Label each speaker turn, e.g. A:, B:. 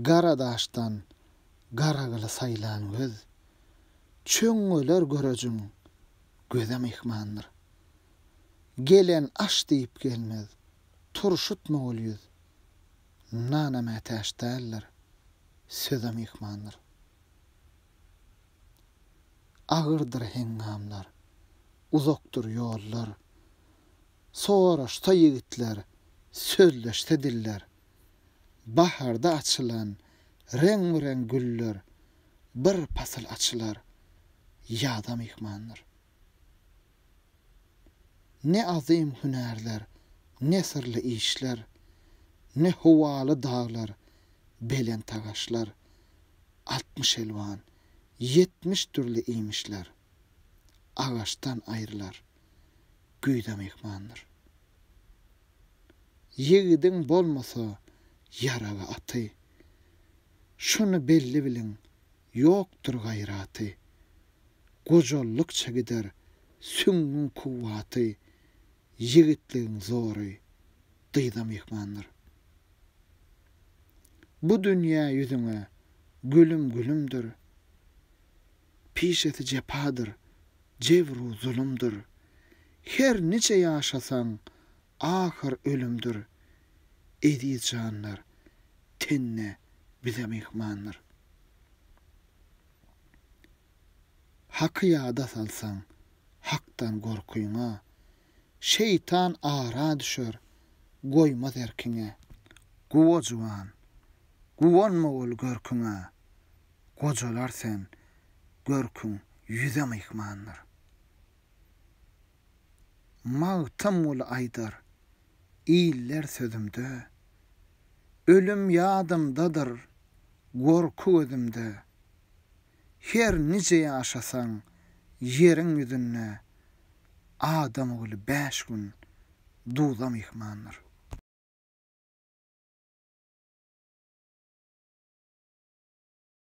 A: Gara daşdan gara gyly saýlan göz, Çöňňeler görejin göze myhmandyr. Gelen aş diýip gelmez, turşutma ol ýüz, Nana mätäç däldir, söze myhmandyr. Agyrdyr heňňamlar, uzakdyr ýollar, Soraşsa ýigitler, sözleşse diller. Baharda açylan reň-bi-reň güller bir pasyl açylar, ýaza myhmandyr. Ne azym hünärler, ne syrly işler, ne howaly daglar, belent tagaşlar, altmyş elwan, ýetmiş dürli iýmişler agaçdan aýrylar, güýze myhmandyr. Ýigidiň bolmasa ýaraly aty, Şuny belli biliň, ýokdur gaýraty. Gojalldykça gider süňňüň kuwwaty, Ýigitligiň zory dyza myhmandyr. Bu dünýä ýüzüňe gülüm gülümdir, Pişesi jepadyr, jebr-u zulumdyr. Her niçe ýaşasaň, ahyr ölümdir. Eziz janlar, tenne bize myhmandyr. Haky ýada salsaň, Hakdan gorkyňa. Şeýtan ara düşer, goýmaz erkiňe. Guwa juwan, guwanma bol görküňe. Gojalar sen, görküň ýüze myhmandyr. Magtymguly aýdar, iller sözümde. Ölüm ýadymdadyr, gorky gözümde. Her nije ýaşasaň ýeriň ýüzünde adam ogly bäş gün duza myhmandyr.